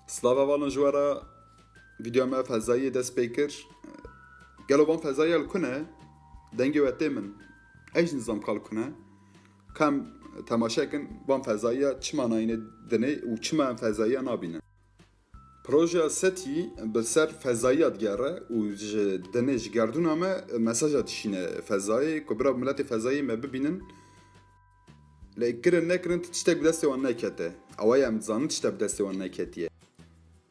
Slava valin ji we re vîdyoya me fezayiyê dest pê kir. Gelo van fezayiya li ku ne? Dengê we tê min. Ez jî nizam ka li ku ne. Kam temaşe kin van fezayiya çi manayînê dinê û çima em fezayiya nabînin. Projeya SETI bi ser fezayiya digere û ji dinê ji gerdûna me mesaja dişîne fezayê ku bira miletê fezayê me bibînin. Lê kirin nekirin tu tiştek bi destê wan nekete. Ewa ye em dizanin tiştek bi destê wan neketiye.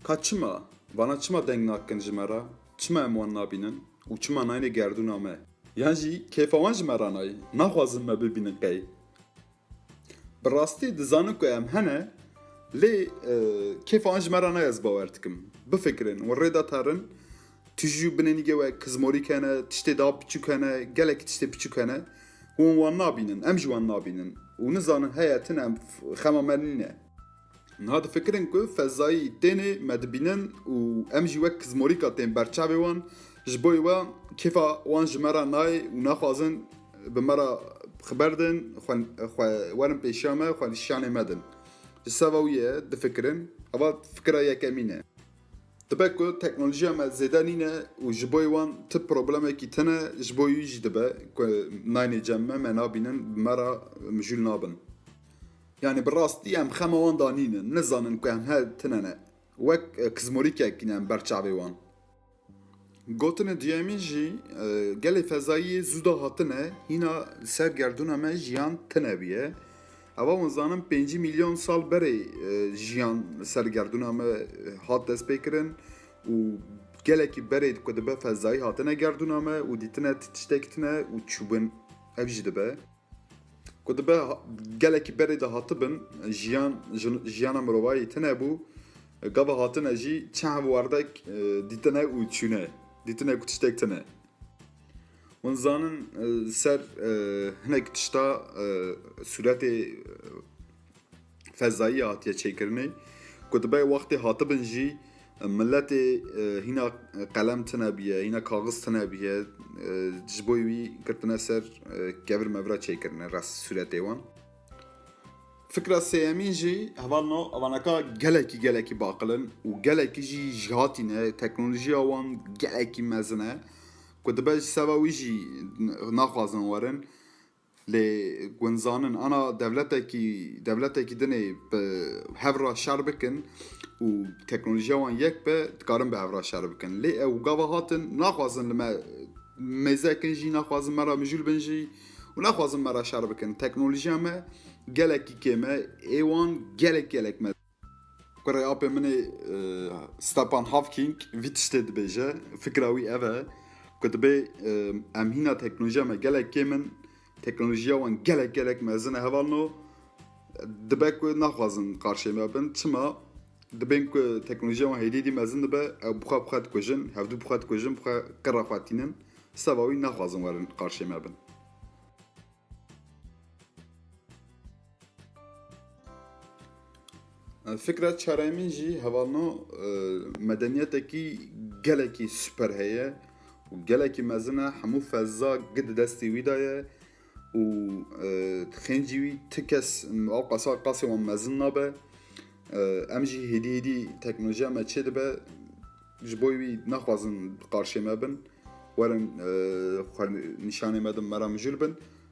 Ka çima? Vana çima deng nakin ji me re? Çima em wan nabînin? Û çima nayêne gerdûna me? Yan jî kêfa wan ji me re nayê, naxwazin me bibînin qey? Bi rastî dizanin ku em hene lê kêfa wan ji me re nayê ez bawer dikim. Bifikirin û rêda terin Tijî û binê nîgê we kizmorîk hene, tiştê daha piçûk hene, gelekî tiştê piçûk hene ku hûn wan nabînin, em jî wan nabînin û nizanin heye tune em xema me nîn e. Niha difikirin ku fezayî tênê me dibînin û em jî wek kizmorîka tên ber çavê wan, ji bo wê kêfa wan ji me re nayê û naxwazin bi me re xwe berdin, xwe werin pêşiya me, xwe li şanê me din. Ji seva wî ye difikirin, eva fikira yekemîn e. Dibe ku teknolojiya me zêde nîne û ji boî wan ti problemekî tine ji bo wî jî dibe ku naynê cem me me nabînin bi me ra mijûl nabin. Yanî bi rastî em xema wan da nînin, nizanin ku em he tine ne. Wek kizmorîkek ne em ber çavê wan. Gotinên duyemîn jî gelê fezayî zû da hatine hîna li ser gerdûna me jiyan tune bûye. Ewa hûn zanin pêncî mîlyon sal berê jiyan li ser gerdûna me hat destpêkirin û gelekî berê ku dibe fezayî hatine gerdûna me û dîtine ti tiştekî tune û çûbin ev jî dibe. Ku dibe gelekî berê de hatibin, jiyan ji jiyana mirovayî tune bû, gava hatine jî çend werdek dîtine û çûne, dîtine ku tiştek tune. Hûn zanin ser hinek tişta sûretê fezayî hatiye çêkirinê ku dibe wextê hatibin jî miletê hîna qelem tune bûye, hîna kaxiz tune bûye ji bo wî girtine ser kevir mevira çêkirine res sûretê wan. Fikra sêyemîn jî heval no evanaka gelekî gelekî baqilin û gelekî jî ji hatî ne teknolojiya wan gelekî mezin e ku dibe ji seba wî jî naxwazin werin Lê gund zanin ana dewletekî dewletekî din ê bi hev re şer bikin û teknolojiya wan yek be dikarin bi hev re şer bikin. Lê ew gava hatin naxwazin li me mêze kin jî naxwazin me re mijûl bin jî û naxwazin me re şer bikin. Teknolojiya me gelekî kêm e ê wan gelek gelek mezin e. Kurê apê min ê Stepan Hawking vî tiştê dibêje, fikra wî ev e ku dibê em hîna teknolojiya me gelek kêm in, teknolojiya wan gelek gelek mezin e hevalno dibe ku naxwazin qarşê me bin çima dibên ku teknolojiya wan hêdî dî mezin dibe ew bixwe bixwe dikujin, hevdû bixwe dikujin bixwe qira xwe tînin seba wî naxwazin werin qarşê me bin. Fikret Çareymîn jî hevalno medeniyetekî gelekî super heye û gelekî mezin e hemû feza gi di destê wî de ye û xêncî wî ti kes ew qasa qasê wan mezin nabe em jî hêdî hêdî teknolojiya me çê dibe ji bo wî nexwazin qarşê me bin werin nîşanê me din me re mijûl bin